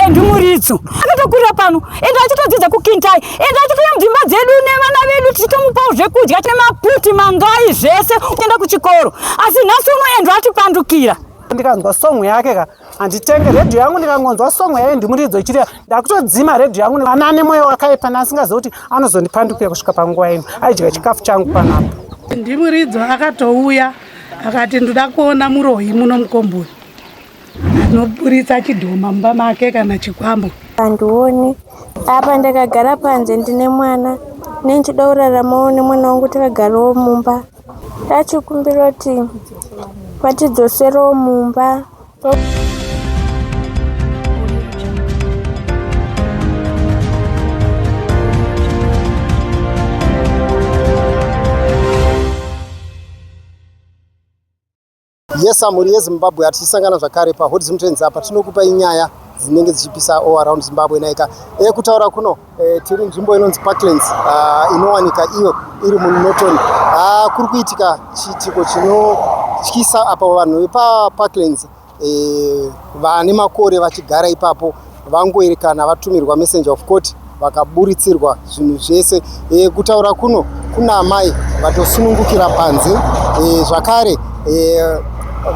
and muridzo akatokurira pano ende achitodzidza kukintai ende achitouya mudzimba dzedu nevana vedu tichitomupawo zvekudya tine maputi mangai zvese kuenda kuchikoro asi nhasi uno endo atipandukira ndikanzwa song yake ka handitenge redhiyo yangu ndikangonzwa song yaye ndimuridzo ichireva ndakutodzima redhiyo yangu ana ane mwoyo wakaipa naasingaziva kuti anozondipandukira kusvika panguva ino aidya chikafu changu panapo ndimuridzo akatouya akati ndoda kuona muroyi muno mukomboni Noburitsa chidhoma mumba make kana chikwambo. Handioni. Apa ndakagara panze ndine mwana. Nendichida kuraramawo nemwana wangu takagarawo mumba. Tachikumbira kuti vatidzoserewo mumba. Yes, mhuri yeZimbabwe hatichisangana zvakare paHot Zim Trends apa tinokupa inyaya dzinenge dzichipisa all around Zimbabwe naika e, kutaura kuno e, tiri nzvimbo inonzi Parklands uh, inowanika iyo iri muNorton uh, kuri kuitika chiitiko chinotyisa apa vanhu vepaParklands e, vane makore vachigara ipapo Vangoerekana vatumirwa messenger of court vakaburitsirwa zvinhu zvese e, kutaura kuno kuna amai vatosunungukira panze e, zvakare e,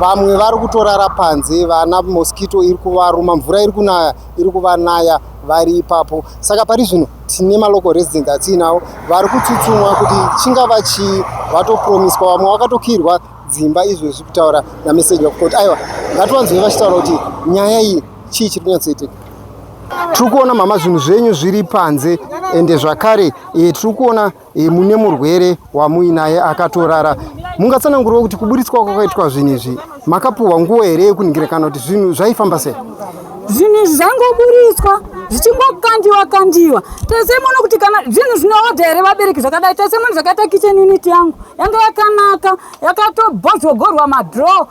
vamwe vari kutorara panze vana mosquito iri kuvaruma mvura iri kunaya iri kuvanaya vari ipapo saka pari zvino tine malocal residents atiinawo vari kutsutsumwa kuti chingava chii vatopromiswa vamwe vakatokirwa dzimba izvezvi kutaura nameseji wakutoti aiwa ngatiwanzwei vachitaura kuti nyaya iyi chii chiri kunyatsoitika tiri kuona mama zvinhu zvenyu zviri panze ende zvakare e, tiri kuona e, mune murwere wamuinaye akatorara mungatsananguriwo kuti kuburitswa kwakaitwa zvinhu izvi makapuhwa nguva here yekuningira kana kuti zvinhu zvaifamba sei zvinhu izvi zvangoburitswa zvichingokandiwa kandiwa tese muno kuti kana zvinhu zvinoodha here vabereki zvakadai tese muno zvakaita kitchen unit yangu yanga yakanaka yakatobhozvogorwa madraw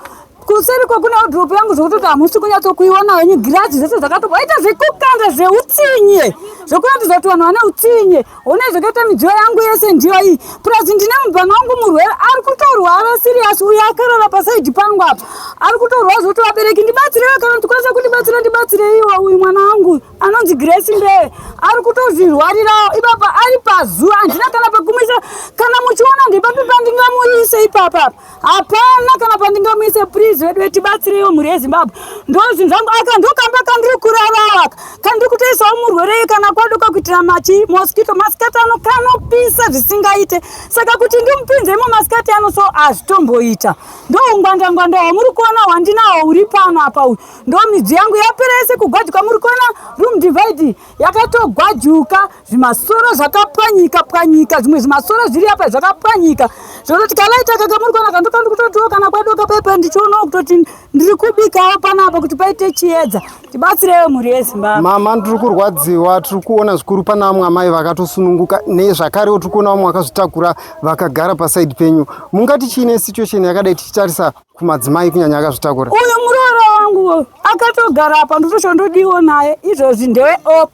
kuseri ko kune wardrop yangu zvekutoti hamusi kunyatsokuiona henyu girazi zvese zvakatopa waita zvekukanda zveutsinye zvekuratidza kuti vanhu vane utsinye hona zvakaita midziyo yangu yese ndiyo iyi plus ndine mubhana wangu murwere ari kutorwara sirius uyo akarara pasaidi pangu apa ari kutorwara zvekuti vabereki ndibatsirewo kana ndikwanisa kundibatsira ndibatsireiwo uyu mwana wangu anonzi grace mbee ari kutozvirwarirawo ipapa ari pazuva handina kana pekumuisa kana muchiona ndepapi pandingamuise ipapapa hapana kana pandingamuise please vedu vetibatsireiwo mhuri yezimbabwe ndozvinhu zvangu aka ndokamba kandiri kuraraka kandiri kutoisawo murwerei kana kwadoka kuitira machi mosquito masikati ano kanopisa zvisingaite saka kuti ndimupinze imo masikati ano so hazvitomboita ndoungwandangwanda hwamuri kuona hwandinawo huri pano apa uyu ndomidziyo yangu yapera yese kugwajika muri kuona room divide yakatogwajuka zvimasoro zvakapwanyika pwanyika zvimwe zvimasoro zviri apa zvakapwanyika zvekutoti kalaita kakamurikona kandoka ndikutotiwo kana kwadoka pepe ndichionawo kutoti ndiri kubikawo panapa kuti paite chiedza tibatsirewe mhuri yezimbabwe mama ndiri kurwadziwa tiri kuona zvikuru pana vamwe amai vakatosununguka nezvakarewo tiri kuona vamwe vakazvitakura vakagara pasaidi penyu mungati chiine situation yakadai tichitarisa kumadzimai kunyanya akazvitakura uyo muroora wangu akatogara apa ndotosho ndodiwo naye izvozvi ndewe op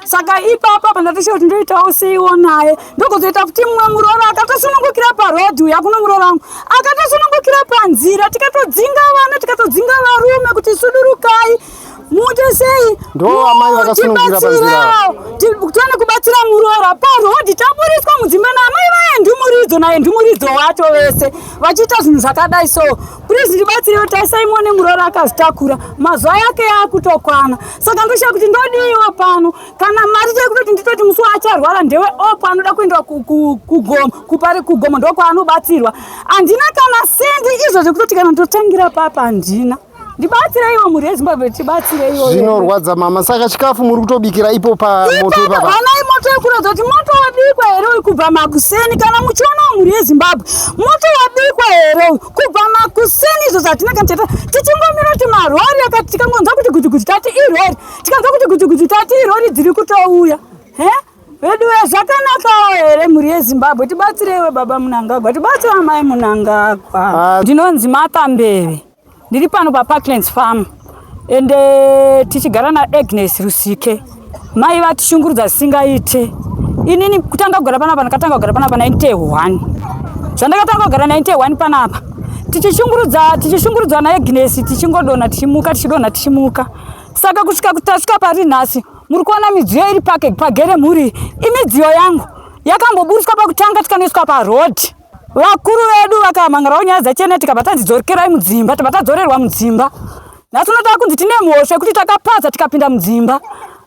saka ipapa pandatosho kuti ndoitawo seiwo naye ndokuzoita kuti mumwe muroora akatosunungukira parodhi uya kuno muroora wangu akatosunungukira panzira tikatodzinga vana tikatodzinga varume kuti sudurukai muite sei ndo amai vakasunungurira panzira tione kubatsira muroora parhodhi taburitswa mudzimba naamai vaye ndumuridzo naye ndumuridzo wacho vese vachiita zvinhu zvakadai so please ndibatsirewo tarisai muone muroora akazitakura mazuva yake yaakutokwana saka ndoshaya kuti ndodiiwo pano kana mari tiri kutoti nditoti musi waacharwara ndewe opo anoda kuenda kugoma kupari kugoma ndokwaanobatsirwa handina kana sendi izvozvo kutoti kana ndotangira papa handina ndibatsireiwo mhuri yezimbabwe tibatsireiwo zvinorwadza mama saka chikafu muri kutobikira ipo pamoto ipapaanai moto yekuratidza kuti moto wabikwa here uyu kubva makuseni kana muchiona mhuri yezimbabwe moto wabikwa here uyu kubva makuseni izvo zvatinenge tichita tichingomira kuti marori akati tikangonzwa kuti gutiguti tati irori tikanzwa kuti gutiguti tati irori dziri kutouya he veduwe zvakanakawo here mhuri yezimbabwe tibatsireiwe baba munangagwa tibatsire amai munangagwa ah. ndinonzi matambeve Ndiri pano paParklands Farm ende eh, tichigara naAgnes Rusike. Mai vatishungurudza zvisingaite. Inini kutanga kugara panapa ndakatanga kugara panapa 91. Zvandakatanga kugara 91 panapa. Tichishungurudza tichishungurudzwa naAgnes tichingodona tichimuka tichidona tichimuka. Saka kusvika kutasvika pari nhasi muri kuona midziyo iri pake pagere mhuri imidziyo yangu yakamboburitswa pakutanga tikanoiswa paroad. vakuru vedu vakamangarawo nyaya dzachena tikabva tanzi dzokerai mudzimba tibva tadzorerwa mudzimba nhasi uno takunzi tine mhosva yekuti takapaza tikapinda mudzimba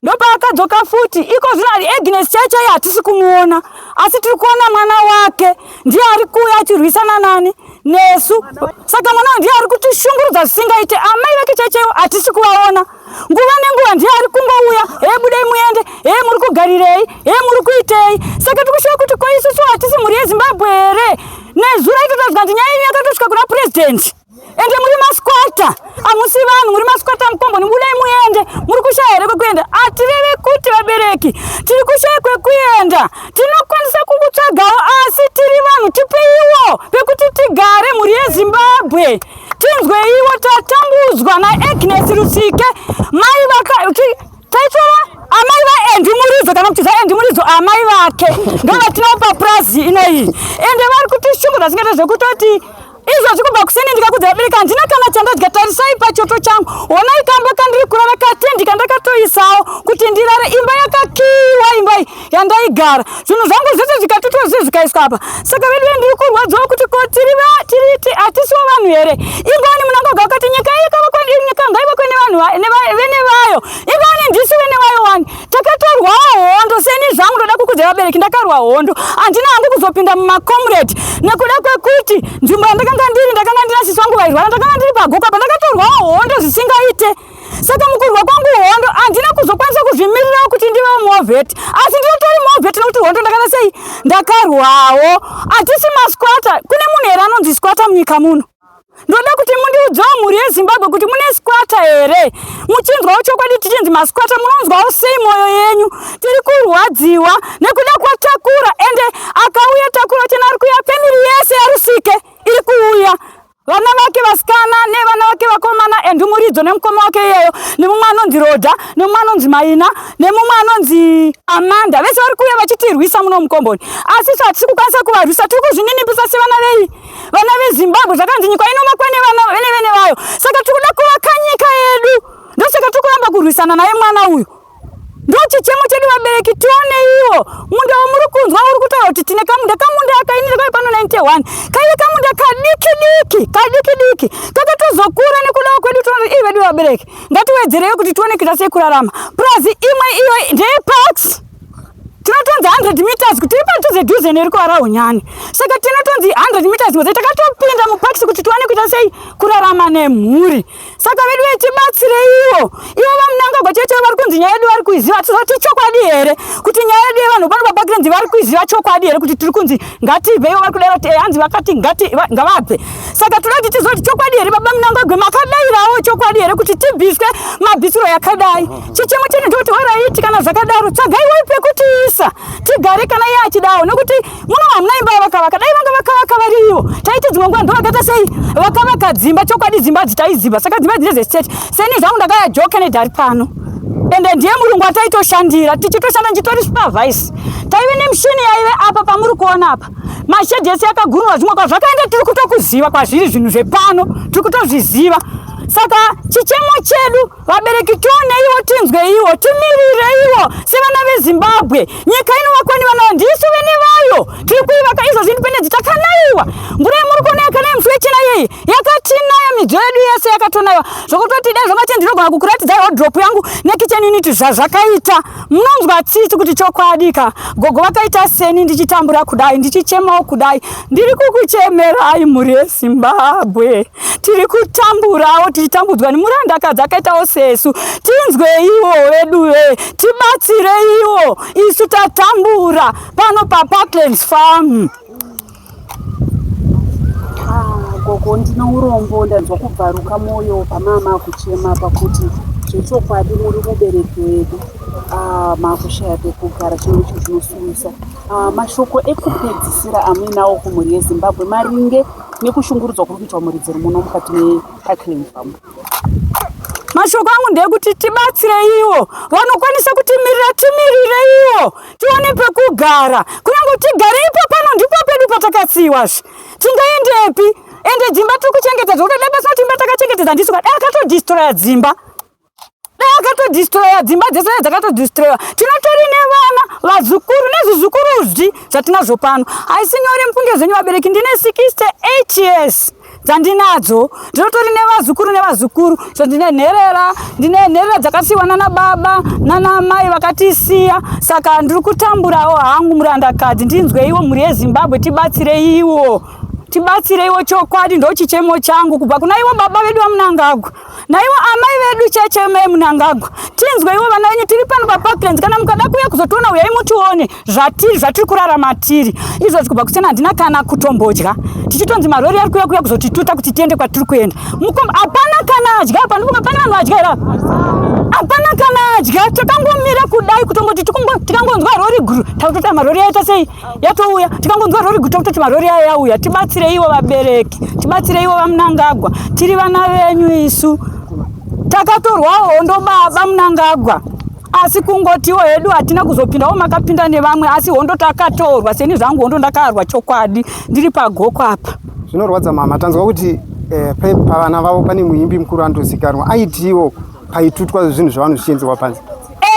ndopaakadzoka futi iko zvino ari agnes cheche iye hatisi kumuona asi tiri kuona mwana wake ndiye ari kuuya achirwisana nani nesu saka mwana ndiye ari kutishungurudza zvisingaite amai vake chechewo hatisi kuvaona nguva nenguva ndiye ari kungouya he budei muende he muri kugarirei he muri kuitei saka tikushuva kuti ko isusu hatisi mhuri yezimbabwe here nezura itotaziva kuti nyaya yenyu yakatosvika kuna purezidhendi ende muri masquata hamusi vanhu muri masquata mukomboni budei muende muri kushaya here kwekuenda hatireve kuti vabereki tiri kushaya kwekuenda tinokwanisa kukutsvagawo asi tiri vanhu tipeiwo pekuti tigare mhuri yezimbabwe tinzweiwo tatambudzwa naagnes rusike mai vakati taitora amai vaendi muridzo kana kuti zvaendi muridzo amai vake ndovatinawo papurazi inoyi ende vari kuti shungu zvasingaita zvekutoti izvozvi kubva kusini ndikakudza vabereki handina kana chandadya tarisai pachoto changu honai kamba kandiri kurara katendika ndakatoisawo kuti ndirare imba yakakiiwa imba iyi yandaigara zvinhu zvangu zvese zvikatotwa zviye zvikaiswa apa saka vedu vendiri kurwadziwa kuti ko tiri tiriti hatisiwo vanhu here ingani munangoga wakati nyika nyika ngaivakwe nevanhu vene vayo ingani ndisu vene vayo wani takatorwawo hondo seni zvangu ndoda kukudza vabereki ndakarwa hondo handina hangu kuzopinda mumacomrade nekuda kwekuti nzvimbo yandakanga ndiri ndakanga ndina sisi vangu vairwara ndakanga ndiri pagoka pandakatorwawo hondo zvisingaite Saka mukurwa kwangu hondo handina kuzokwanisa kuzvimirirawo kuti ndive movhet asi ndinotori movhet nokuti hondo ndakana sei ndakarwawo hatisi masquata kune munhu here anonzi squata munyika muno ndoda kuti mundiudzawo mhuri yezimbabwe kuti mune squata here muchinzwawo chokwadi tichinzi masquata munonzwawo sei mwoyo yenyu tiri kurwadziwa nekuda kwatakura ende akauya takura chena ari kuya famiri yese yarusike iri kuuya vana vake vasikana nevana vake vakomana and muridzo nemukoma wake iyeyo nemumwe anonzi roda nemumwe anonzi maina nemumwe anonzi amanda vese vari kuuya vachitirwisa muno mukomboni asi isu hatisi kukwanisa kuvarwisa tiri kuzvininipisa sevana vei vana vezimbabwe zvakanzi nyika inomakwa nevene vene vayo saka tiri kuda kuvakanyika yedu ndosaka tiri kuramba kurwisana naye mwana uyu ndochichemo chedu vabereki tione iwo munda wamuri kunzwa uri kutaura kuti tine kamunda kamunda akainira kave pano 91 kaive kamunda kadiki diki kadiki diki kakatozokura nekudawo kwedu tiona ii vedu vabereki ngatiwedzereyo kuti tione kuita sei kurarama purazi imwe iyo ndeyeparks tinotonzi 100 meters kuti iri padhuze dhuze neri kuvara unyani saka tinotonzi 100 meters ngozi takatopinda muparks kuti tiwane kuita sei kurarama nemhuri saka vedu vechibatsireiwo ivo vamunangagwa chete vari kunzi nyaya yedu vari kuiziva tizoti chokwadi here kuti nyaya yedu yevanhu pano pabakirenzi vari kuiziva chokwadi here kuti tiri kunzi ngatibve ivo vari kudai kuti eh, hanzi vakati ngati ngavabve saka toda kuti tizoti chokwadi here baba munangagwe makadairawo chokwadi here kuti tibviswe mabvisiro yakadai chichemo chete ndikuti waraiti kana zvakadaro tsvagaiwo pekutiisa tigare kana iye achidawo nekuti Mwana wa mnai mbaya vakavaka dai vanga vakavaka variyo taiti dzimwe nguva ndovakaita sei vakavaka dzimba chokwadi dzimba idzi taiziva saka dzimba dzine zestate seni zvangu ndakaya joke nedhari pano ende ndiye murungu ataitoshandira tichitoshanda ndichitori supervise taive nemishini yaive apa pamuri kuona apa mashedhi ese yakagururwa zvimwe kwa zvakaenda tiri kutokuziva kwazviri zvinhu zvepano tiri kutozviziva saka chichemo chedu Vabereki tioneiwo, tinzweiwo, timirirei-wo sevana veZimbabwe. Nyika inovakwa nevana vayo, ndisu vene vayo tiri kuivaka izvozvi. Independenzi takanaiwa, mvura yemuri kuona yakanaya musi wechina yeyi yakatinaya, midziyo yedu yese yakatonaiwa zvokutoti dai zvakati ndinogona kukuratidzai wardrop yangu nekitchen unit zvazvakaita. Munonzwa tsitsi kuti chokwadika gogo vakaita seni ndichitambura kudai, ndichichemawo kudai. Ndiri kukuchemerai mhuri yeZimbabwe. tiri kutamburawo tichitambudzwa nemurandakadzi akaitawo sesu tinzweiwo vedu ve tibatsireiwo isu tatambura pano paparklands farm ah, gogo ndine urombo ndanzwa kubvaruka mwoyo pamama kuchema pakuti zvechokwadi muri mubereki wedu ah, makushaya pekugara chino icho zvinosuwisa ah, mashoko ekupedzisira amuinawo kumhuri yezimbabwe maringe nekushungurudzwa kuri kuitwa muridziro muno mukati meparkland farm mashoko angu ndeyekuti tibatsireiwo vanokwanisa kutimirira timiriraiwo tione pekugara kunyange tigare ipo pano ndipo pedu patakatsiiwazve tingaendepi ende dzimba tiri kuchengetedza ukada basina kuti imba takachengetedza ndisu kadai akatodistroya dzimba dai akatodistroya dzimba dzese dzakatodistroya tinotori nevana vazukuru nezvizukuru zvi zvatinazvo pano haisi nyore mufunge zvenyu vabereki ndine 68 years dzandinadzo ndinotori nevazukuru nevazukuru so ndine nherera ndine nherera dzakasiyiwa nana baba nana mai vakatisiya saka ndiri kutamburawo hangu murandakadzi ndinzweiwo mhuri yezimbabwe tibatsireiwo tibatsireiwo chokwadi ndochichemo changu kubva kuna ivo baba vedu vamunangagwa naivo amai vedu cheche mai munangagwa tinzwe ivo vana venyu tiri pano paparklands kana mukada kuuya kuzotiona uyai mutione zvatiri zvatiri kurara matiri izvo zvikuba kusiyana handina kana kutombodya tichitonzi marori ari kuya kuya kuzotituta kuti tiende kwatiri kuenda mukomba hapana kana adya apa ndikuba pane vanhu vadya ira hapana kana adya takangomira kudai kutongoti tikangonzwa rori guru takutoita marori aita sei yatouya tikangonzwa rori guta kutoti marori aya yauya tibatsireiwo vabereki tibatsireiwo vamunangagwa tiri vana venyu isu takatorwawo hondo baba munangagwa asi kungotiwo hedu hatina kuzopindawo makapinda nevamwe asi hondo takatorwa seni zvangu hondo ndakarwa chokwadi ndiri pagoko apa zvinorwadza mama tanzwa kuti eh, pavana vavo pane muimbi mukuru anotozikanwa aitiwo paitutwa zvinhu zvavanhu zvichienzewa panze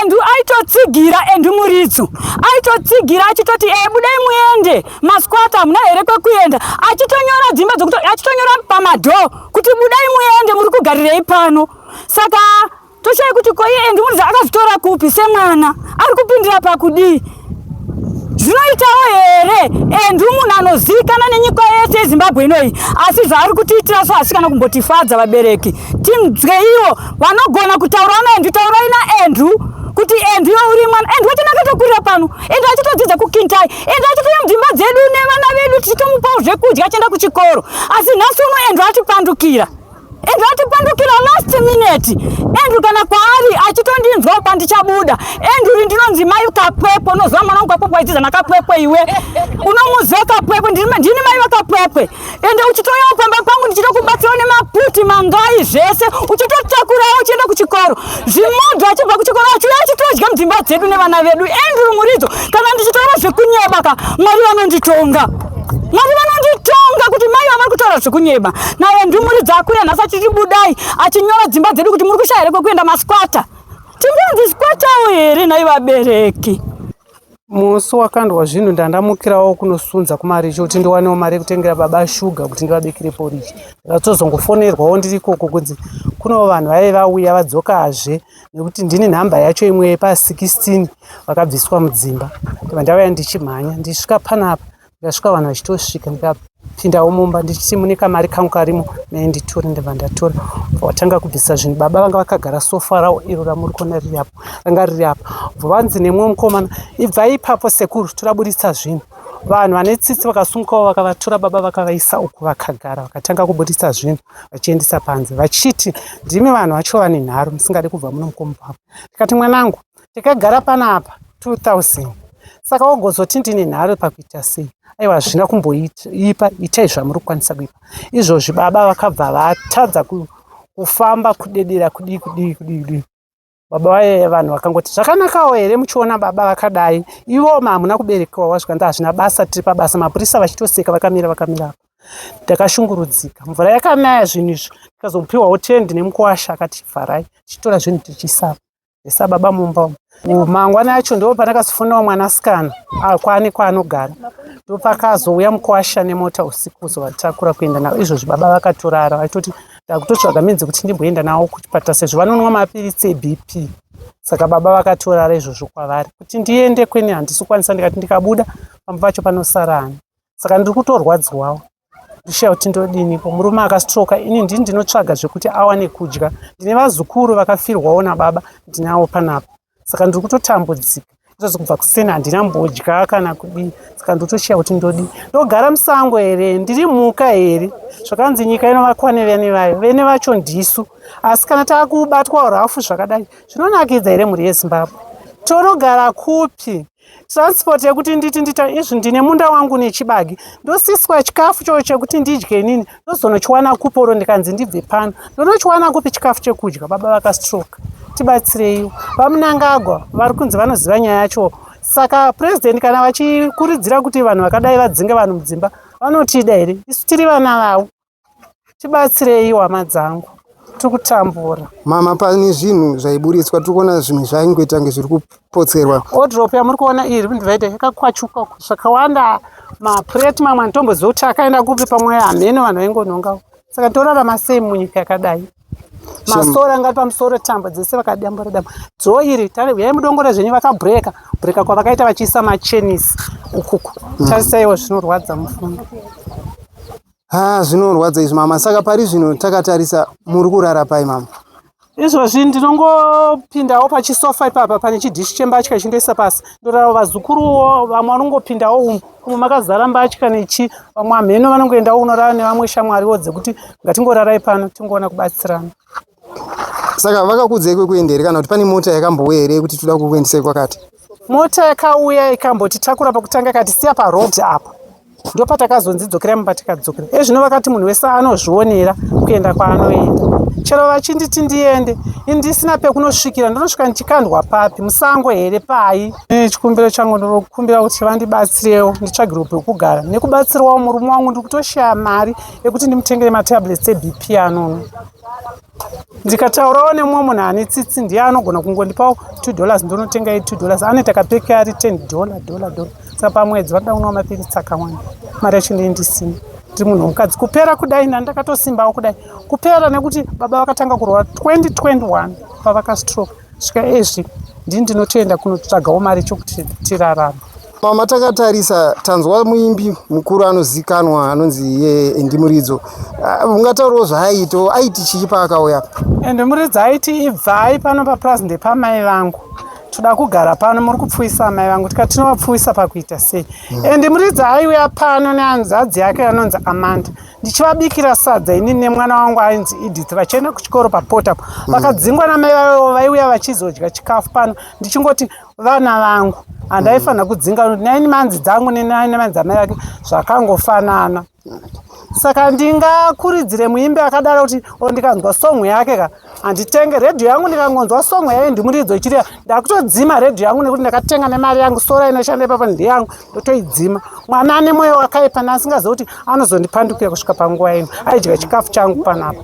Andrew aitotsigira Andrew Muritsu aitotsigira achitoti e budai muende masquata hamuna here kwekuenda achitonyora dzimba dzokuti achitonyora pamadho kuti budai muende muri kugarirei pano saka toshaya kuti koiye Andrew Muritsu akazvitora kupi semwana ari kupindira pakudii zvinoitawo here endi munhu anozivikana nenyika yese yezimbabwe inoyi asi zvaari kutiitira so asi kana kumbotifadza vabereki tinzwe ivo vanogona kutaura naendi taurai naandrew kuti andrew uri mwana andrew wacho nakatokurira pano andrew achitodzidza kukintai andrew achitouya mudzimba dzedu nevana vedu tichitomupawo zvekudya achienda kuchikoro asi nhasi uno andrew atipandukira and watipandukira last minute and kana kwaari achitondinzwa uba ndichabuda and uri ndinonzi mai kapwepwe unoziva mwana wangu kapwepwe aitiza nakapwepwe iwe unomuziva kapwepwe ndini mai vakapwepwe ende uchitoyawo pamba pangu ndichitokubatsirawo nemaputi mangai zvese uchitotakurawo uchienda kuchikoro zvimodho achibva kuchikoro achiuya achitodya mudzimba dzedu nevana vedu and uri muridzo kana ndichitaura zvekunyebaka mwari vanonditonga Mwari vanonditonga kuti mai vavari kutaura zvekunyeba naye ndumuri dzakuya nhasi achitibudai achinyora dzimba dzedu kuti muri kushaya here kwekuenda maskwata tinganzi sikwatawo here nhai vabereki musi wakandwa zvinhu ndandamukirawo kunosunza kumarichi kuti ndiwanewo mari yekutengera baba shuga kuti ndivabikire porichi ndakatozongofonerwawo ndiri ikoko kunzi kunewo vanhu vaive vauya vadzokazve nekuti ndini nhamba yacho imwe yepa 16 vakabviswa mudzimba ndibva ndauya ndichimhanya ndisvika panapa ndikasvika vanhu vachitosvika ndikapindawo mumba ndichiti mune kamari kangu karimo naye nditore ndibva ndatora vatanga kubvisa zvinhu baba vanga vakagara sofa rawo iro ramuri kuona riri apo ranga riri apa vanzi nemumwe mukomana ibvai ipapo sekuru toraburitsa zvinhu vanhu vane tsitsi vakasungukawo vakavatora baba vakavaisa uku vakagara vakatanga kuburitsa zvinhu vachiendesa panze vachiti ndimi vanhu vacho vane nharo musingade kubva muno mukomubvavo ndikati mwanangu ndikagara panapa 2000 saka wogozoti ndine nharo pakuita sei aiwa hazvina kumboipa itai zvamuri kukwanisa kuipa izvozvi baba vakabva vatadza kufamba kudedera kudii kudii kudii kudii baba vaye vanhu vakangoti zvakanakawo here muchiona baba vakadai ivo ma hamuna kuberekewa wazvika nda hazvina basa tiri pabasa mapurisa vachitoseka vakamira vakamirapo ndakashungurudzika mvura yakanaya zvinhu izvo ndikazomupiwawo tendi nemukuwasha akati vharai tichitora zvinhu tichisava esa baba mumba umu mangwana yacho ndo pandakazofonawo mwanasikana akwane kwaanogara ndopakazouya mukuwasha nemota usiku kuzovatakura kuenda navo izvozvi baba vakatorara vaitoti ndakutotsvaga means kuti ndimboenda nawo kuchipatara sezvo vanonwa mapiritsi ebp saka baba vakatorara izvozvo kwavari kuti ndiende kwene handisi kukwanisa ndikati ndikabuda pamba pacho panosara ani saka ndiri kutorwadziwawo ndishaya kuti ndodiniko murume akastroka ini ndini ndinotsvaga zvekuti awane kudya ndine vazukuru vakafirwawo nababa ndinawo panapa saka ndiri kutotambudzika kutozi kubva kuseni handina mbodya kana kudii saka ndotochiya kuti ndodi ndogara musango here ndiri mhuka here zvakanzi nyika inovakwa nevene vayo vene vacho ndisu asi kana taakubatwa rafu zvakadai zvinonakidza here mhuri yezimbabwe tonogara kupi transport yekuti nditi ndita izvi ndine munda wangu nechibage ndosiswa chikafu choo chekuti ndidye inini ndozonochiwana kupi oro ndikanzi ndibve pano ndonochiwana kupi chikafu chekudya baba vakastroke tibatsireiwo vamunangagwa vari kunzi vanoziva nyaya yacho saka president kana vachikurudzira kuti vanhu vakadai vadzinge vanhu mudzimba vanotida here isu tiri vana vavo tibatsirei hama dzangu tikutambura mama pane zvinhu zvaiburitswa tiri kuona zvinhu zvaingoita kunge zviri kupotserwa odrop yamuri kuona iri kundivaita yakakwachuka zvakawanda mapureti mamwe anotomboziva kuti akaenda kupi pamwe hameno vanhu vaingonongawo saka torarama sei munyika yakadai masora ngati pamusoro tambo dzese vakadambura dambo dzoo iri yai mudongore zvenyu vakabhureka bhureka kwavakaita vachiisa machenisi ukuku mm. tarisaiwo zvinorwadza mufunga Ha zvinorwadza izvi mama. Saka pari zvino takatarisa muri kurara pai mama? Izvozvi ndinongopindawo pachisofa ipapa pane chidishi chembatya chindoisa pasi ndorara vazukuruwo vamwe vanongopindawo umu umu makazara mbatya nechi vamwe amheno vanongoendawo unorara nevamwe shamwariwo dzekuti ngatingorarai pano tingoona kubatsirana Saka vakakuudzai kwekuenda here kana kuti pane mota yakambouya here yekuti toda kukuendesai kwakati? Mota yakauya ikambotitakura pakutanga kati siya paroad apa ndopatakazonzi dzokera mumba tikadzokera ezvino vakati munhu wese anozvionera kuenda kwaanoenda chero vachinditi ndiende ndisina pekunosvikira ndonosvika ndichikandwa papi musango here pai e, chikumbiro changu ndinokumbira kuti vandibatsirewo nditsvagirwe pekugara nekubatsirwawo murume wangu ndiri kutoshaya mari yekuti ndimutengere matablets ebp anono ndikataurawo nemumwe munhu ane tsitsi ndiye anogona kungondipawo two dollars ndonotenga ye two dollars anoita kapeke ari ten dollar dollar dollar saka pamwedzi vanoda kunwa mapiritsi akawanda mari yacho ndee ndisina ndiri munhu wemukadzi kupera kudai nani ndakatosimbawo kudai kupera nekuti baba vakatanga kurwara 2021 pavakastroke Svika ezvi ndini ndinotoenda kunotsvagawo mari chokuti tirarama. Mama takatarisa tanzwa muimbi mukuru anozikanwa anonzi ye Endi Muridzo. Ah, ungataurawo zvaaito aiti chii paakauya apa? Endi Muridzo aiti ibvai pano papraz ndepamai vangu toda kugara pano muri kupfuisa amai vangu tika tinovapfuisa pakuita sei mm. and muridzi aiuya pano neanzadzi yake anonzi amanda ndichivabikira sadza ini nemwana wangu ainzi edith vachienda kuchikoro paport apo mm. vakadzingwa namai vavo vaiuya vachizodya chikafu pano ndichingoti vana vangu handaifanira kudzinga naini manzi dzangu nenaine manzi amai vake zvakangofanana saka ndingakuridzire muimbi akadaro kuti o oh, ndikanzwa song yake ka handitenge redhiyo yangu ndikangonzwa songo yayo ndimuridzo ichiriya ndakutodzima redhiyo yangu nekuti ndakatenga nemari yangu sora inoshanda ipapa ndeyangu ndotoidzima mwana ane mwoyo wakaipa naasingaziva kuti anozondipandukira kusvika panguva ino aidya chikafu changu panapa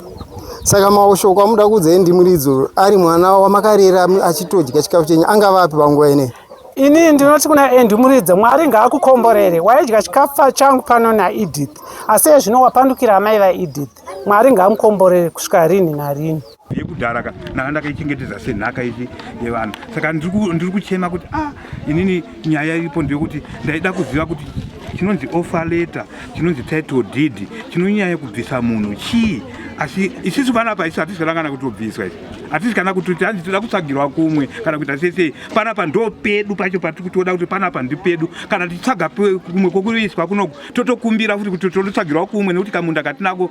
saka mashoko amuda kuudzai ndimuridzo ari mwana wamakarera achitodya chikafu chenyu angava api panguva inei inii ndinoti kuna endi muridze mwari ngaakukomborere waidya chikafa changu pano naedith asi ezvino wapandukira amai vaedith mwari ngamukomborere kusvika rini narini yekudhara ka ndanga ndakaichengetedza senhaka ichi yevanhu saka ndiri kuchema kuti a ah, inini nyaya iripo ndeyekuti ndaida kuziva kuti chinonzi offer letter chinonzi title deed chinonyaya kubvisa munhu chii asi isisu panapa isu hatisi kana kana kutobviswa isi hatisi kana kutoti hanzi toda kutsvagirwa kumwe kana kuita sesei panapa ndo pedu pacho patiri kutoda kuti panapa ndi pedu kana tichitsvaga kumwe kokuiswa kunoku totokumbira futi kuti tototsvagirwa kumwe nekuti kamunda katinako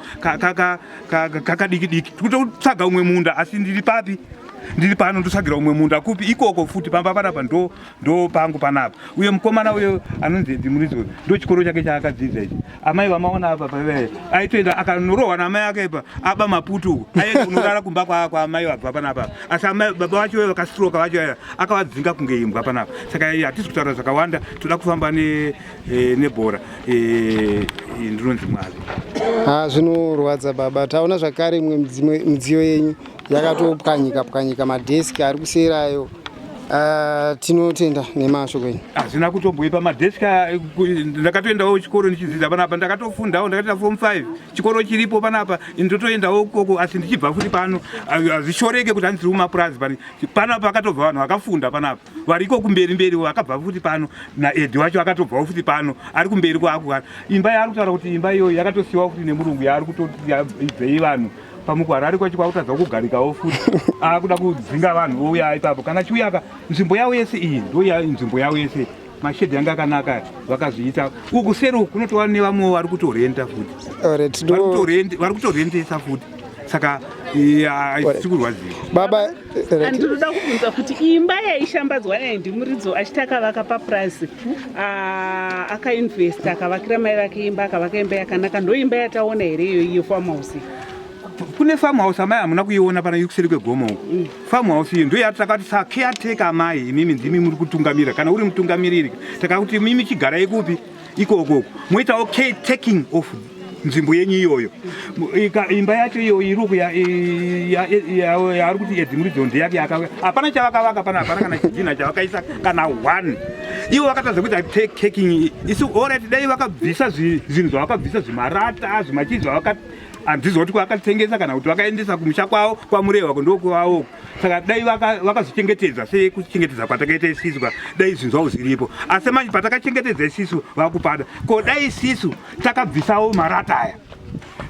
kakadiki diki tikutotsvaga umwe munda asi ndiri papi ndiri pano ndotsvagira umwe munda kupi ikoko futi pamba panapa ndo ndo pangu panapa uye mukomana uyo anonzi edzi muridzo ndo chikoro chake chaakadzidza ichi amai vamaona apa pavee aitoenda akanorohwa naamai ake pa aba maputu uko aende kunorara kumba kwaamai vabva panapa asi amai baba vacho vaye vakastroka vacho aya akavadzinga kunge imbwa panapa saka hatisi kutaura zvakawanda toda kufamba ne Eh, nebhora eh, ndinonzi mwavi ha ah, zvinorwadza baba taona zvakare imwe midziyo yenyu yakatopwanyika pwanyika madheski ari kuserayo ah, tinotenda nemashoko enyu hazvina kutomboipa madheski ndakatoendawo kuchikoro ndichidzidza panapa ndakatofundawo ndakatoenda form five chikoro chiripo panapa ndotoendawo koko asi ndichibva futi pano hazvishoreke kuti handisiri kumapurazi panapa akatobva vanhu vakafunda panapa variko kumberi mberi vakabva futi pano naedi wacho akatobvawo futi pano ari kumberi kwaakugara imba yaari kutaura kuti imba iyoyo yakatosiyiwa futi nemurungu yaari kutoibvei vanhu pamukwara ari kwacho kwakutadza kugarikawo futi akuda kudzinga vanhu vouya ipapo kana chiuyaka nzvimbo yavo yese iyi ndoya nzvimbo yavo yese mashedhi yanga akanaka vakazviita uku seri uku kunotova nevamwewo vari kutorenda futi vari kutorendesa futi saka haisi kurwadziwa Ndinoda kubvunza kuti imba yaishambadzwa naye ndimuridzo achiti akavaka papurazi ah, akainvesta akavakira mai vake imba akavaka imba yakanaka ndoimba yataona here iyo iyo farm house kune farm house amai hamuna kuiona pana ikuseri kwegomo uko mm. farm house iyo ndoyati takati sakeateka amai imimi ndimi muri kutungamira kana uri mutungamiriri takakuti mimi chigarai kupi ikoko moitawo care taking of nzvimbo yenyu iyoyo imba yacho iyo iruku yaari kuti edimuridzo ndeyake yakavaka hapana chavakavaka pana hapana kana chidhinha chavakaisa kana one ivo vakatadza kuita taking isi orit dai vakabvisa zvinhu zvavakabvisa zvimarata zvimachii zvavaka handizoti kwakatengesa kana kuti vakaendesa kumusha kwavo kwamurehwa kundokuvaoko saka dai vakazvichengetedza sekuchengetedza kwatakaita isisu ka dai zvinhu zvavo zviripo asi manje patakachengetedza isisu vakupada ko dai isisu takabvisawo marata aya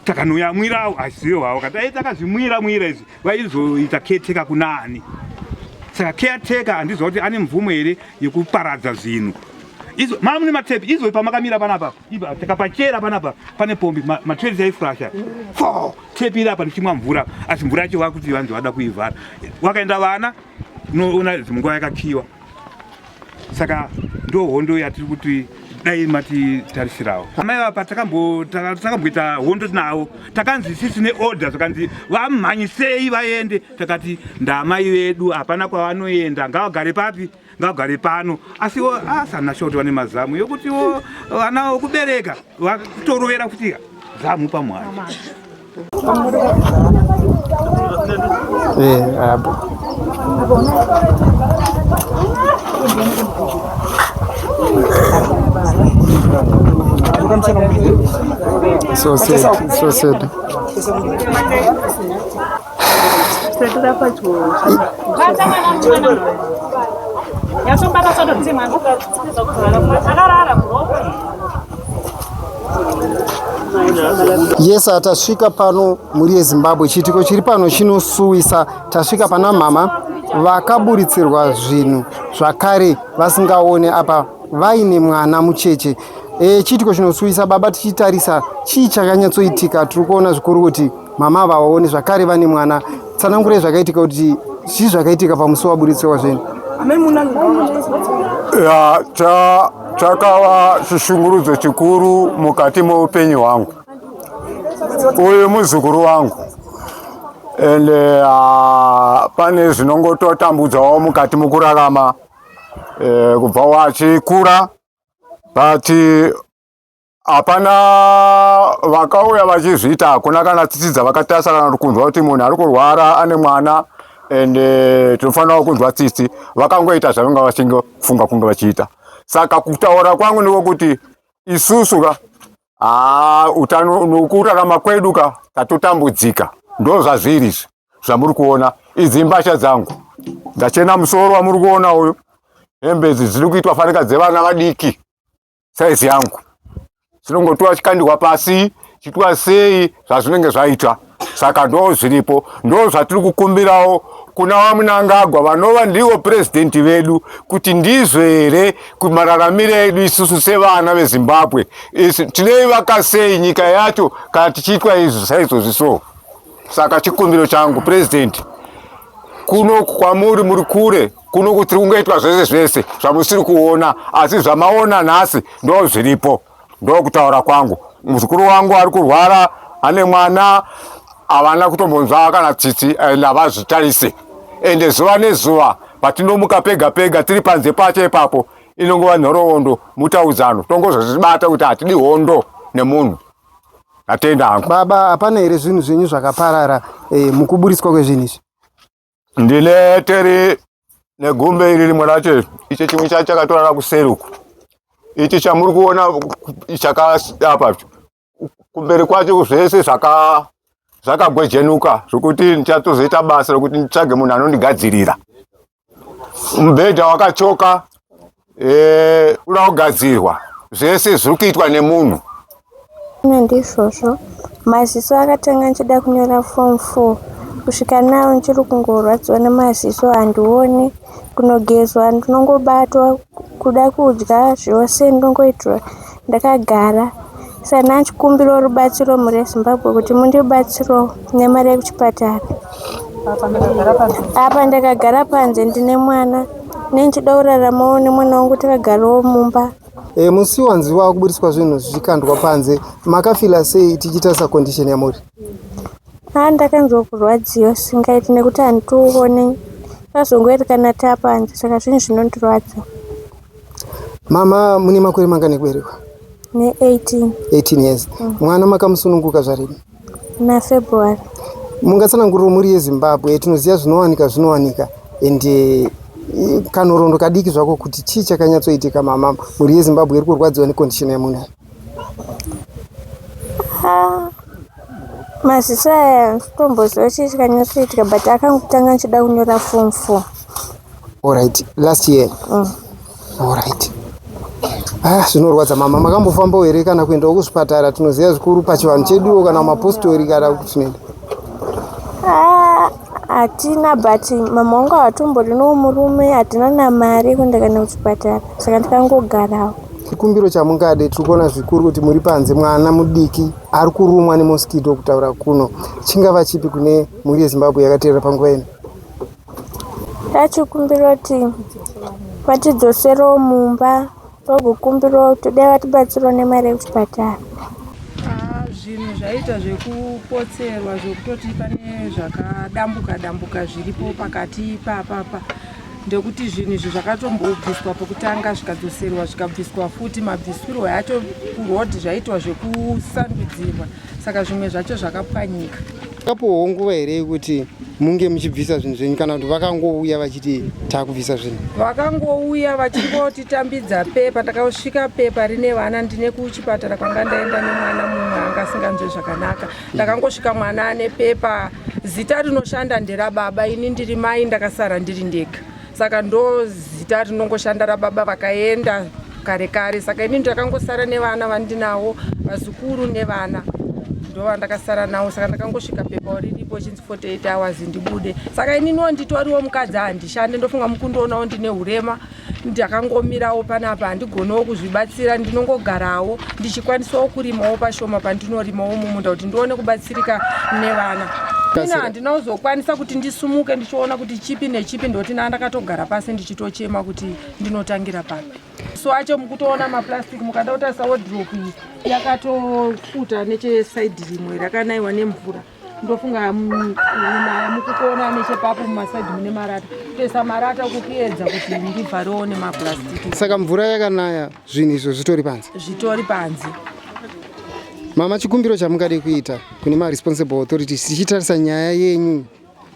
takanoyamwirawo asiyo havo ka dai takazvimwira mwira izvi vaizoita keteka kuna ani saka keteka handiziva kuti ane mvumo here yekuparadza zvinhu izo mara mune matepi izo pamakamira panapa iba takapachera panapa pane pombi matresi yaifurasha fo Tsepira apa ndichimwa mvura asi mvura yacho vakuti vanzi vada kuivhara. Wakaenda vana unoona zimunguva yakakiwa. Saka ndo hondo yatiri kuti dai matitarisirawo amai vapa takamboita hondo tinavo takanzi sisi neorder zvakanzi vamhanyisei vaende takati ndaamai vedu hapana kwavanoenda ngavagare papi ngagare pano asiwo asana shoti vane mazamu yokutiwo vana okubereka vatorovera kuti zamu pamwana So sad, so sad. Yes, tasvika pano mhuri yeZimbabwe. Chiitiko chiri pano chinosuwisa. Tasvika pana mama vakaburitsirwa zvinhu zvakare vasingaone apa vaine mwana mucheche. E, chiitiko chinosuwisa baba tichitarisa chii chakanyatsoitika tiri kuona zvikuru kuti Mama ava vaone zvakare vane mwana. Tsanangurai zvakaitika kuti chii zvakaitika pamusi waburitswa kwazveni. Ya, cha chakava chishungurudzo chikuru mukati meupenyu hwangu. Uyu muzukuru wangu and uh, pane zvinongototambudzawo mukati mukurarama uh, kubva wachikura but hapana vakauya vachizviita hakuna kana tsitsi dzavakatarisa kana kunzwa kuti munhu ari kurwara ane mwana and eh, tinofanirawo kunzwa tsitsi vakangoita zvavanga vachingofunga kunge vachiita saka kutaura kwangu ndiko kuti isusu ka haa ah, utano nokurarama kwedu ka tatotambudzika ndo zvazviri izvi zvamuri kuona idzi mbasha dzangu ndachena musoro wamuri kuona uyu hembe idzi dziri kuitwa fanika dzevana vadiki saizi yangu chinongotiwa chikandihwa pasi chitwa sei zvazvinenge zvaitwa saka ndo zviripo ndo zvatiri kukumbirawo kuna vamunangagwa vanova ndivo purezidenti vedu kuti ndizvo here kumararamiro edu isusu sevana vezimbabwe tinoivaka sei nyika yacho kana tichiitwa izvi saizvozvi so Saka chikumbiro changu president, kuno kwamuri muri kure kuno kutiri kungoitwa zvese zvese zvamusiri kuona, asi zvamaona nhasi ndo zviripo. Ndo kutaura kwangu. Muzukuru wangu ari kurwara, ane mwana, havana kutombonzwa kana tsitsi and havazvitarise ende zuva nezuva patinomuka pega pega tiri panze pacho ipapo inongova nhoroondo mutaudzano tongozozvibata kuti hatidi hondo nemunhu Atenda hangu. Baba hapana here zvinhu zvenyu zvakaparara eh, mukuburitswa kwezvinhu izvi? Ndine teri negumbe iri rimwe racho icho chimwe chacho chakatorara kuseri uku. Ichi chamuri kuona chakadapa kumberi kwacho zvese zvaka zvakagwejenuka zvokuti ndichatozoita basa rokuti nditsvage munhu anondigadzirira. mubhedha wakachoka eh, uda kugadzirwa zvese zviri kuitwa nemunhu ine ndizvozvo maziso akatanga ndichida kunyora form four kusvika nawo ndichiri kungorwadziwa nemaziso handione kunogezwa ndinongobatwa kuda kudya zvose ndongoitirwa ndakagara Sana chikumbiro rubatsiro mhuri yezimbabwe kuti mundibatsiro nemari yekuchipatara apa ndakagara panze ndine mwana nendichida kuraramawo nemwana wangu takagarawo mumba e, musi wanzi wakuburitswa zvinhu zvichikandwa panze makafila sei tichitarisa condition yamuri a ah, ndakanzwa kurwadziwa singaiti nekuti handitione pazongoerekana tapanze saka zvinhu zvinondirwadza Mama mune makore mangani ekuberekwa? Ne 18. 18 years. Mm. Mwana makamusununguka zvarini? Na February. Mungatsananguriro mhuri yeZimbabwe tinoziva zvinowanika zvinowanika and eh, kanhorondo kadiki zvako kuti chii chakanyatsoitika mama mhuri yeZimbabwe iri kurwadziwa necondition yamunayo? maziso aya totomboziva chii chikanyasoitika but akangotanga ndichida kunyora form four alright last year mm. alright Ah, zvinorwadza mama makambofambawo here kana kuendawo kuzvipatara tinoziva zvikuru pachivanhu cheduwo kana mapostori kana kuti zvinoenda ah, hatina but mama wangu havatombori no murume hatina namari yekuenda kana kuchipatara saka ndikangogarawo chikumbiro chamungade tiri kuona zvikuru kuti muri panze mwana mudiki ari kurumwa nemoskito kutaura kuno chingava chipi kune mhuri yezimbabwe yakateerera panguva ino tachikumbira kuti vatidzoserewo mumba Tokukumbirawo kuti dai vatibatsirawo nemari yekuchipatara. Ah, zvinhu zvaita zvekupotserwa zvekutoti pane zvakadambuka dambuka zviripo pakati ipapapa ndekuti zvinhu izvi zvakatombobviswa pokutanga zvikadzoserwa zvikabviswa futi mabvisirwo acho kuroad zvaitwa zvekusandudzirwa saka zvimwe zvacho zvakapwanyika Kapowo nguva here yekuti munge muchibvisa zvinhu zvenyu kana kuti vakangouya vachiti takubvisa zvinhu? Vakangouya vachingoti tambidza pepa, takasvika pepa rine vana ndine kuchipatara kwanga ndaenda nemwana mumwe anga asinganzwe zvakanaka. Ndakangosvika mwana ane pepa, zita rinoshanda nderababa, ini ndiri mai ndakasara ndiri ndega. saka ndozita rinongoshanda rababa vakaenda kare kare saka ini ndakangosara nevana vandinawo vazukuru nevana ndovandakasara nawo saka ndakangosvika pepa riripo chinzi 48 hours ndibude saka ininiwo nditoriwo mukadzi handishande ndofunga mukundoonawo ndine urema ndakangomirawo panapa handigonewo kuzvibatsira ndinongogarawo ndichikwanisawo kurimawo pashoma pandinorimawo mumunda kuti ndione kubatsira tirika nevana ini handina kuzokwanisa kuti ndisumuke ndichiona kuti chipi nechipi ndoti naa ndakatogara pasi ndichitochema kuti ndinotangira papi so acho mukutoona maplastic mukada kutarisa wodrop iyi yakatofuta nechesaidi rimwe rakanaiwa nemvura ndofunga mm, mukutoona nechepapo mumasaidi mune marata kutoisa marata kukuedza kuti ndibvarewo nemaplastic saka mvura yakanaya zvinhu izvo zvitori panze zvitori panze mama chikumbiro chamungade kuita kune maresponsible authorities tichitarisa nyaya yenyu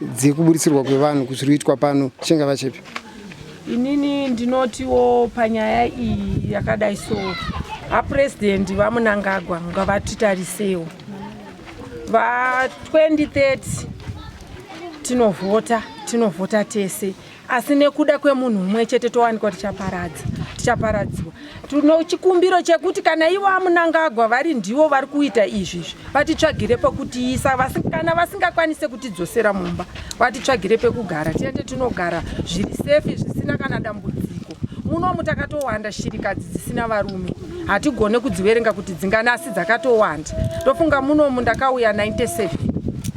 dzekuburitsirwa kwevanhu kuzviri kuitwa pano chingava chipi inini ndinotiwo panyaya iyi yakadai so apurezidendi vamunangagwa ngavatitarisewo va 2030 tinovhota tinovhota tese asi nekuda kwemunhu umwe chete towanikwa tichaparadza tichaparadziwa tino chikumbiro chekuti kana ivo amunangagwa vari ndivo vari kuita izvi izvi vatitsvagire pekutiisa kana vasingakwanise kutidzosera mumba vatitsvagire pekugara tiende tinogara zviri sefi zvisina kana dambudziko munomu takatowanda shirikadzi dzisina varume hatigone kudziverenga kuti dzingana asi dzakatowanda ndofunga munomu ndakauya 97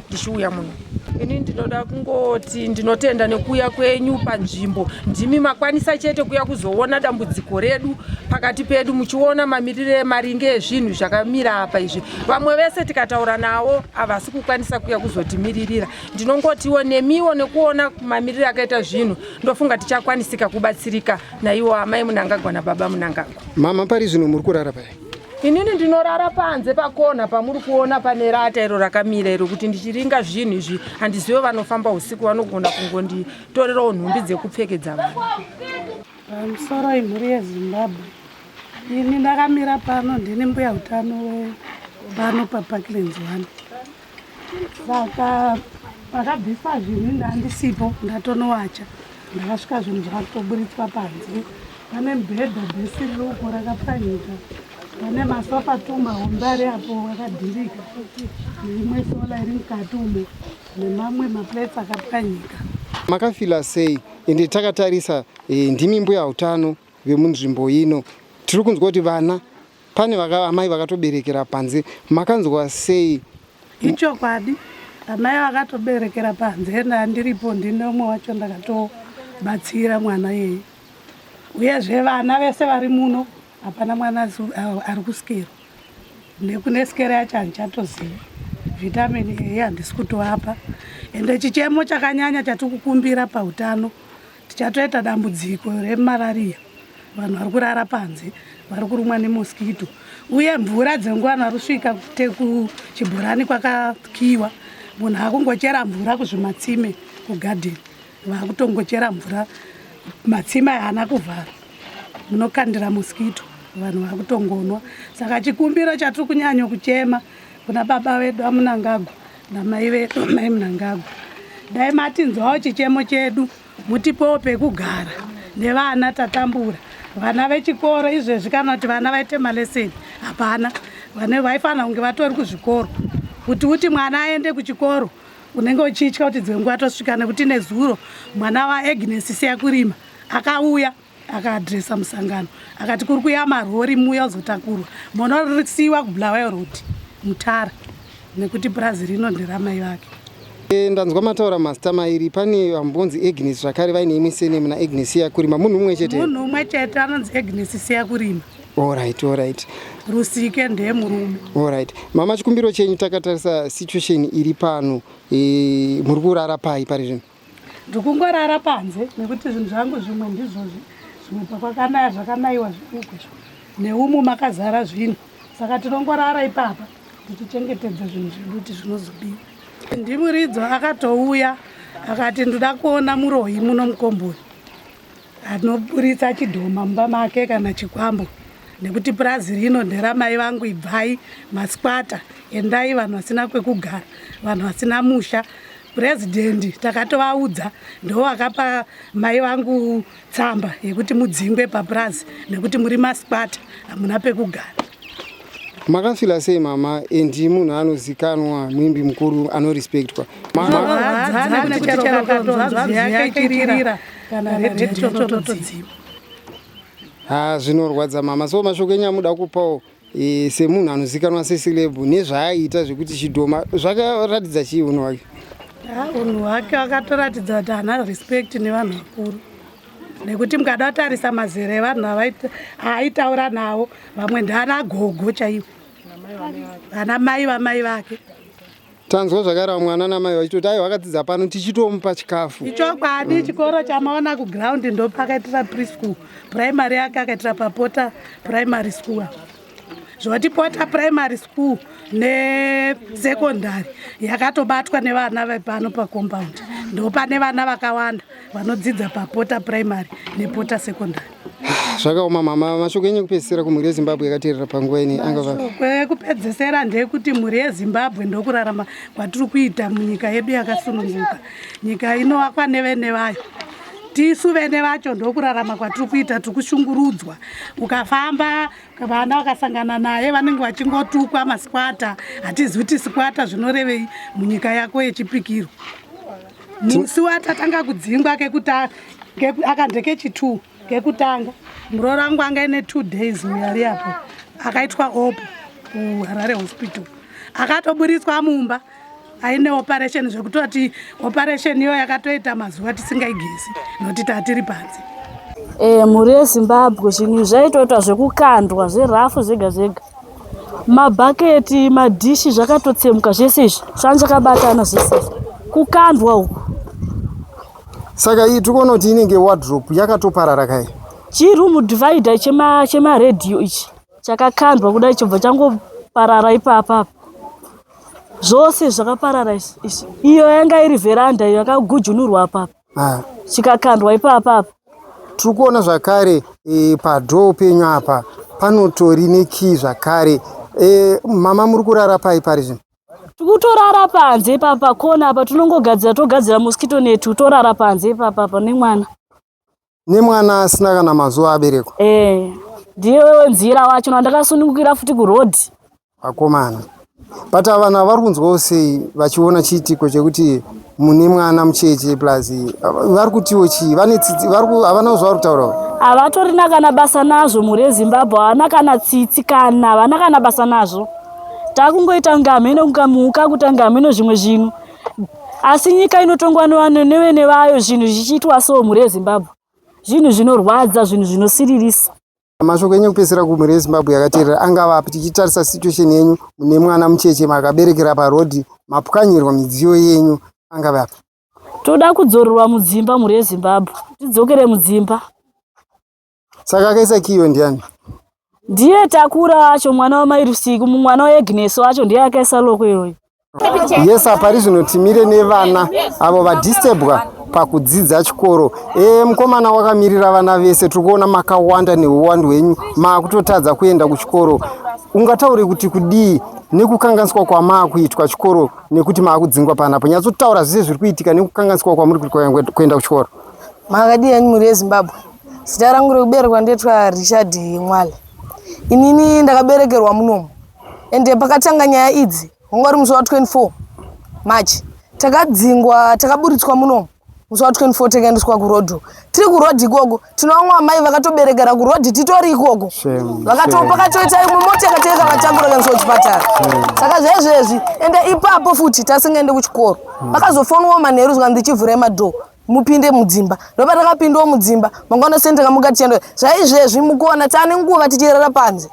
ndichiuya muno ini ndinoda kungoti ndinotenda nekuuya kwenyu panzvimbo ndimi makwanisa chete kuya kuzoona dambudziko redu pakati pedu muchiona mamirire maringe ezvinhu zvakamira apa izvi vamwe vese tikataura nawo havasi kukwanisa kuya kuzotimiririra ndinongotiwo nemiwo nekuona mamirire akaita zvinhu ndofunga tichakwanisika kubatsirika naiwo amai munangagwa nababa munangagwa mama pari zvino muri kurara pai inini ndinorara panze pakona pamuri kuona pane rata iro rakamira iro kuti ndichiringa zvinhu izvi handizive vanofamba usiku vanogona kungonditorerawo nhumbi dzekupfekedza vanhu pamusoro imhuri yezimbabwe ini ndakamira pano ndini mbuya utano wepano paparklands one saka pakabviswa zvinhu ndandisipo ndatonowacha ndakasvika zvinhu zvakatoburitswa panze pane mubhedha bhesiruko rakapwanyika pane masofa tumba hombe ari apo akadhirika neimwe sola iri mukati umo nemamwe maplates akapwanyika makafila sei ende takatarisa eh, ndimi mbuya utano vemunzvimbo ino tiri kunzwa kuti vana Pane vaka, amai vakatoberekera panze, makanzwa sei? Ichokwadi amai vakatoberekera panze ende andiripo ndine umwe wacho ndakatobatsira mwana yeye uyezve vana vese vari muno hapana mwana ari kusikero nekune sikero yacho handichatozivi vitamini eye handisi kutoapa ende chichemo chakanyanya chatikukumbira pautano Tichatoita dambudziko remarariya, vanhu vari kurara panze, vari kurumwa nemoskito, uye mvura dzenguva narusvika kuchibhorani kwakakiwa, munhu akungochera mvura kuzvimatsime kugadheni, vakutongochera mvura matsime haana kuvhara, munokandira moskito, vanhu vakutongonwa. Saka chikumbiro chatiri kunyanyo kuchema kuna baba vedu amunangagwa Namai vedu mai Mnangagwa, dai matinzwawo chichemo chedu mutipewo pekugara nevana tatambura vana vechikoro izvezvi kana kuti vana vaite maleseni hapana vane vaifanira kunge vatori kuzvikoro kuti uti mwana aende kuchikoro unenge uchitya kuti dzimwe nguva tosvika nekuti nezuro mwana waagnes siya kurima akauya akaadresa musangano akati kuri kuya marori muya uzotakurwa mona risiwa kubulawayo road mutara nekuti purazi rino nderamai vake e, ndanzwa mataura mazita mairi pane vambonzi agnes zvakare vaine imwe senemu naagnes siyakurima munhu umwe chete munhu umwe chete anonzi agnes siyakurima orit orit rusike ndee murume orit mama chikumbiro chenyu takatarisa situation iri pano e, muri kurara pai pari zvino ndikungorara panze nekuti zvinhu zvangu zvimwe ndizvozvi zvimwe pakwakanaya zvakanaiwa zvirikukwesha neumu makazara zvinhu saka tinongorara ipapa tichichengetedza zvinhu zvedu kuti zvinozobiwa ndimuridzo akatouya akati ndoda kuona muroyi muno mukomboi Anoburitsa chidhoma mumba make kana chikwambo nekuti purazi rino nderamai vangu ibvai masikwata endai vanhu vasina kwekugara vanhu vasina musha purezidhendi takatovaudza ndo vakapa mai vangu tsamba yekuti mudzingwe papurazi nekuti muri masikwata hamuna pekugara makafila sei mama and munhu anozikanwa muimbi mukuru anorespectwa ha zvinorwadza mama so mashoko enyu amuda kupawo e, semunhu anozikanwa sesilebu nezvaaiita zvekuti chidhoma zvakaratidza chii unhu wake unhu wake akatoratidza kuti ana respect nevanhu vakuru nekuti mukada tarisa mazera evanhu aaitaura nawo vamwe ndaana gogo chaivo vana mai vamai vake tanzwa zvakarawa mwana namai vachitoti aiwa akadzidza pano tichitomupa chikafu ichokwadi chikoro chamaona kuground ndopakaitira preschool primary yake akaitira papota primary school zvotipota primary school nesecondary yakatobatwa nevana vepano pacompoundi ndopane vana vakawanda vanodzidza papota primary nepota secondary zvakaoma mama mashoko enyu ekupedzisira kumhuri yezimbabwe yakaterera panguva ini angavashoko ekupedzisira ndeyekuti mhuri yezimbabwe ndokurarama kwatiri kuita munyika yedu yakasununguka nyika inovakwa nevene vayo tisu vene vacho ndokurarama kwatiri kuita tiri kushungurudzwa ukafamba vana vakasangana naye vanenge vachingotukwa masikwata hatizivi kuti sikwata zvinorevei munyika yako yechipikirwa musi watatanga kudzingwa kekuta akandekechitwo kekutanga muroora wangu anga ine two days muyari apo akaitwa opo kuharare hospital akatoburitswa mumba aine operation zvekutoti operation iyo yakatoita mazuva tisingaigezi nokuti tatiri panze e, mhuri yezimbabwe zvinhu zvaitoitwa zvekukandwa zverafu zvega zvega mabhaketi madhishi zvakatotsemuka zvese izvi zvanga zvakabatana zvese izvi kukandwa uku saka iyi tikonoti inenge wardrop yakatoparara kai chiroom divider chemaredio ichi chakakandwa kuda ichobva changoparara ipapapa zvose zvakaparara izvi iyo yanga iri vheranda iyo yakagujunurwa apapa ah. chikakandwa ipapa apa tiri kuona zvakare e, padhoo penyu apa panotori nekii zvakare e, mama muri kurara pai pari zvino tikutorara panze ipapa kona apa tinongogadzira togadzira mosquito net torara panze ipapa apa nemwana nemwana asina kana mazuva aberekwa eh ndiyo nzira wacho ndakasunungukira futi kuroad akomana but vana vari kunzwawo sei vachiona chiitiko chekuti mune mwana mucheche plus vari kutiwo chii vane tsitsi havana zvavari kutaura havatorina kana basa nazvo mhuri yezimbabwe havana kana tsitsi kana havana kana basa nazvo takungoita kunge hameno kunga muka kuta kunge hameno zvimwe zvinhu asi nyika inotongwa nevanhu nevene vayo zvinhu zvichiitwa so mhuri yezimbabwe zvinhu zvinorwadza zvinhu zvinosiririsa mashoko enyu kupedzisira kumhuri yezimbabwe yakateerera angava api tichitarisa situation yenyu mune mwana mucheche makaberekera parodhi mapwanyirwa midziyo yenyu angava api toda kudzorerwa mudzimba mhuri yezimbabwe tidzokere mudzimba Saka akaisa kiyo ndiani? Ndiye takura wacho mwana wamai Rusiku, mwana waEgnes wacho ndiye akaisa loko iyoyo. Yes, apa rizvino timire nevana avo vadisturbwa pakudzidza chikoro. E, mkomana wakamirira vana vese, tiri kuona makawanda neuwandu hwenyu, maakutotadza kuenda kuchikoro. Ungataure kuti kudii nekukanganiswa kwamaakuitwa chikoro nekuti maakudzingwa panapo? Nyatsotaura zvese zviri kuitika nekukanganiswa kwamuri kuenda kuchikoro. Makadii henyu mhuri yeZimbabwe? Zita rangu rekuberekwa ndetwa Richard Mwale. Inini ndakaberekerwa munomu ende pakatanga nyaya idzi wanga uri musi wa 24 March takadzingwa takaburitswa munomu musi wa 24 takaendeswa kurodho tiri kurodhi ikoko tinovamwe amai vakatoberekera kurodhi titori ikoko vakatopakatoita imwe mota yakateka vatakura kaendeswa kuchipatara saka zvezvezvi ende ipapo futi tasingaende kuchikoro hmm. vakazofonwa manheru zvikanzi chivhurai madhoo mupinde mudzimba ndopa takapindawo mudzimba mangwana seni takamuka tichienda zvaizvezvi mukuona taane nguva tichirara panze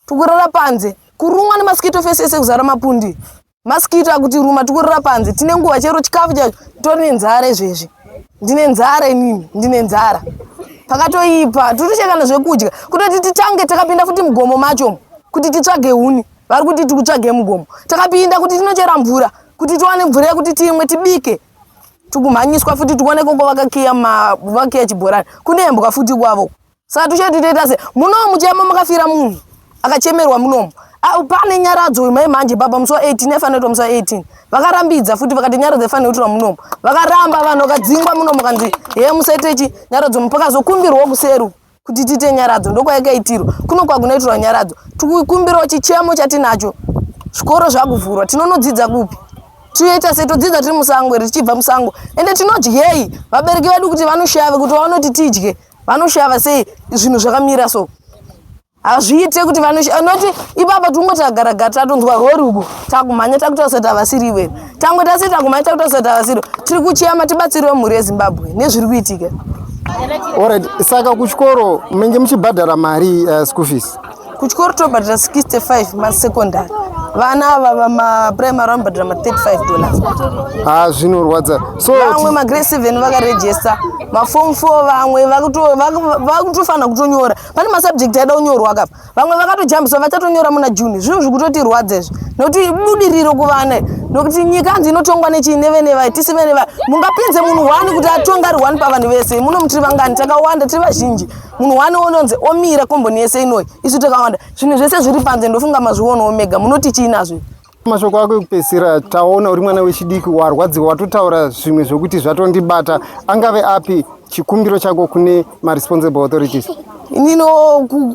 tikurara panze kurumwa nemaskito fesi ese kuzara mapundi maskito akuti ruma tikurara panze tine nguva chero chikafu chacho tori nenzara izvezvi ndine nzara inini ndine nzara pakatoipa titoshekana zvekudya kutoti titange takapinda futi mugomo macho kuti titsvage huni vari kuti tikutsvage mugomo takapinda kuti tinochera mvura kuti tiwane mvura yekuti timwe tibike tikumhanyiswa futi tikuone koko vakakiya vakiya chibhorani kune mbwa futi kwavo saka tuchati toita se munomu muchema makafira munhu akachemerwa munomu ah, pane nyaradzo uyu mai manje baba musi wa 18 aifanira kuita musi wa 18 vakarambidza futi vakati nyaradzo aifanira kuitirwa munomu vakaramba vanhu vakadzingwa munomu kanzi he musaitechi nyaradzo mupakazokumbirwa kuseru kuti tiite nyaradzo ndokwayakaitirwa kuno kwakunaitirwa nyaradzo tikukumbirawo chichemo chatinacho zvikoro zvakuvhurwa tinonodzidza kupi tinoita sei todzidza tiri musango here tichibva musango ende tinodyei vabereki vedu kuti vanoshava kuti vaonoti tidye vanoshava sei zvinhu zvakamira so hazviite kuti vanoti ipapa tingoti agaragara tatonzwa rori uko takumhanya takutarisa kuti havasiri iwewe Tango tasi tango maita kuti asata vasiro. Tiri kuchiyama tibatsiriwe mhuri yeZimbabwe nezviri kuitika. Alright, saka kuchikoro menge muchibhadhara mari uh, school fees? Kuchikoro tobhadhara 65 masecondary. Vana ava vamaprimary vanobhadhara ma 35 dollars. Ha, ah, zvinorwadza. So vamwe magrade 7 vakaregister, maform 4 vamwe vakutofanira kutonyora. Pane masubject aida kunyorwa akapa. vamwe vakatojambiswa vachatonyora muna june zvinhu zvikutotirwadza izvi nokuti ibudiriro kuvana nokuti nyika anzi inotongwa nechii nevene vai tisi vene vai mungapinze munhu wani kuti atonga ari wani pavanhu vese muno mutiri vangani takawanda tiri vazhinji munhu wani ononzi omira komboni yese inoi isu takawanda zvinhu zvese zviri panze ndofunga mazvionawo mega munoti chii nazvo Mashoko ako ekupedzisira taona uri mwana wechidiki warwadziwa watotaura zvimwe zvokuti zvatondibata angave api chikumbiro chako kune maresponsible authorities inino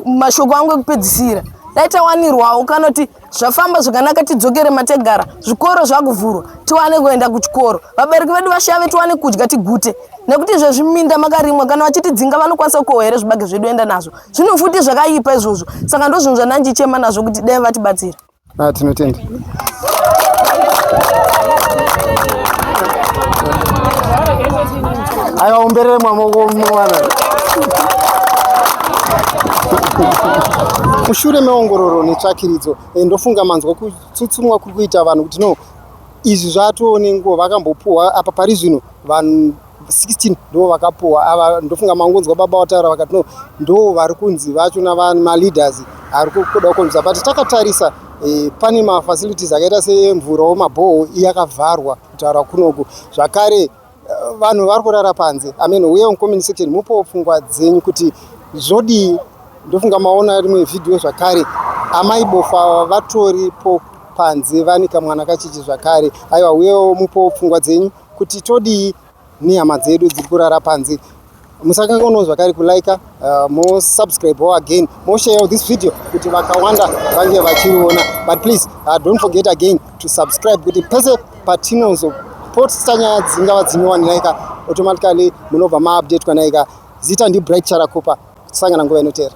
mashoko angu ekupedzisira dai tawanirwawo kana kuti zvafamba zvakanaka tidzokere mategara zvikoro zvakuvhurwa tiwane kuenda kuchikoro vabereki vedu vashave tiwane kudya tigute nekuti izvo zviminda makarimwa kana vachitidzinga vanokwanisa kukohwa here zvibage zvedu enda nazvo zvino futi zvakaipa izvozvo saka ndozvinhu zvandandichema nazvo kuti dai vatibatsira Ah, tinotenda. Aiwa umberere mwamoko mwana. Mushure meongororo netsvakiridzo eh, ndofunga manzwa kutsutsumwa kuri kuita vanhu kuti no izvi zvatoo nenguva vakambopuhwa apa pari zvino vanhu 16 ndo vakapuwa ava ndofunga mangonzwa baba wataura vakati no ndo vari kunzi vacho namaleaders ari kuda kukonzwa but takatarisa eh, pane mafacilities akaita semvurawo mabhoho iye akavharwa kutaura kunoku zvakare eh, vanhu vari kurara panze amen uye oncommunity section mupowo pfungwa dzenyu kuti zvodii ndofunga maona rimwe vhidhiyo zvakare amai bofa vatoripo panze vane kamwana kachichi zvakare aiwa uyewo mupowo pfungwa dzenyu Kuti todii nehama dzedu dziri kurara panze. Musakanganwawo zvakare kulaika uh, mosubscribewo again mosharewo this video kuti vakawanda vange vachiriona but please uh, don't forget again to subscribe kuti pese patinozopotsta nyaya dzingava dzinyowanilaika automatically munobva maupdate kwanaika zita ndibright charakupa tisangana nguva inotera